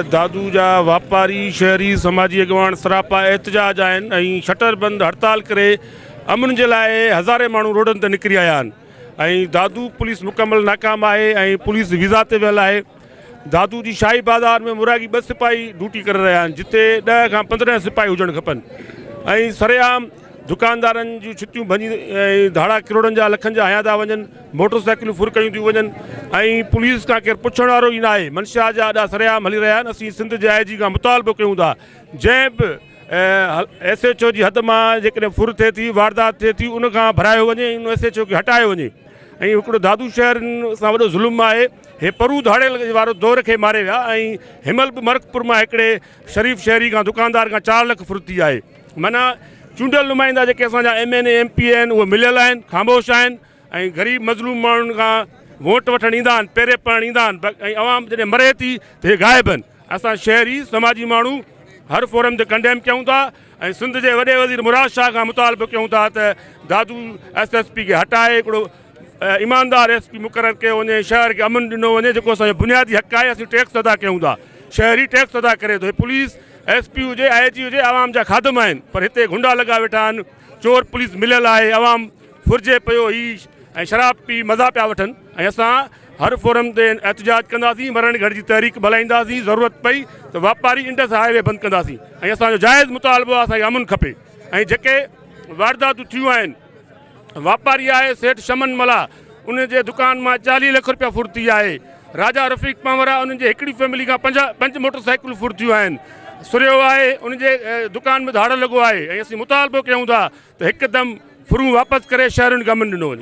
دادو جا واپاري، شهري، سماجي اڳواڻ سراپا احتجاج آهن ۽ شٽر بند هڙتال ڪري امن جي لاء هزارين ماڻهو روڊن تي نڪري آيا آهن ۽ دادو پوليس مڪمل ناڪام آهي ۽ پوليس ويزا تي ويل آهي. دادو جي شاهي بازار ۾ مورائگي ٻه سپاهي ڊوٽي ڪري رهيا آهن جتي ڏهه کان پندرهن سپاهي هجڻ کپن ۽ سرعام دڪاندارن جون ڇتيون ڀڃي ۽ ڌاڙا ڪروڙن جا لکن جا هنيا ٿا وڃن، موٽر سائيڪلون ڦر ڪيون ٿيون وڃن ۽ پوليس کان ڪير پڇڻ وارو ئي ناهي، منشيات جا اڏا سرعام هلي رهيا آهن، اسين سنڌ جي آء جي کان مطالبو ڪيون ٿا جنهن به ايس ايڇ او جي حد مان جيڪڏهن ڦر ٿئي ٿي، واردات ٿئي ٿي ان کان ڀرايو وڃي ۽ ان ايس ايڇ او کي هٽايو وڃي ۽ هڪڙو دادو شهر سان وڏو ظلم آهي، هي پرو ڌاڙيل وارو دور کي ماري ويا ۽ هيمهل به مرڪ پور مان هڪڙي شريف شهري کان دڪاندار کان چار لک ڦر ٿي آهي. معنيٰ چونڊيل نمائندا جيڪي اسان جا M N A M P A آهن اهي مليل آهن خاموش آهن ۽ غريب مظلوم ماڻهن کان ووٽ وٺڻ ايندا آهن پيري پوڻ ايندا آهن ۽ عوام جڏهن مري ٿي ته اهي غائب آهن اسان شهري سماجي ماڻهو هر فورم تي ڪنڊيم ڪيون ٿا ۽ سنڌ جي وڏي وزير مراد شاهه کان مطالبو ڪيون ٿا ته دادو ايس ايس پي کي هٽائي هڪڙو ايماندار ايس پي مقرر ڪيو وڃي ۽ شهر کي امن ڏنو وڃي جيڪو اسان جو بنيادي حق آهي اسين ٽيڪس ادا ڪيون ٿا شهري ٽيڪس ادا ڪري ٿو هي پوليس ايس پي هجي آء جي هجي عوام جا خادم آهن پر هتي گهنڊا لڳا ويٺا آهن چور پوليس مليل آهي عوام ڦرجي پيو هي ۽ شراب پي مزا پيا وٺن ۽ اسان هر فورم تي احتجاج ڪنداسين مرڻ گهڙ جي تحريڪ به هلائينداسين ضرورت پئي ته واپاري انڊس هاء وي بند ڪنداسين ۽ اسان جو جائز مطالبو آهي اسان کي امن کپي ۽ جيڪي وارداتون ٿيون آهن واپاري آهي سيٺ شمن ملاح ان جي دڪان مان چاليهه لک روپيا ڦر ٿي آهي راجا رفيق پنورا ان جي هڪڙي فيملي کان پنج پنج موٽر سائيڪلون ڦر ٿيون آهن سرهيو آهي ان جي دڪان ۾ ڌاڙ لڳو آهي ۽ اسين مطالبو ڪيون ٿا ته هڪدم ڦرون واپس ڪري شهرين کي امن ڏنو وڃي.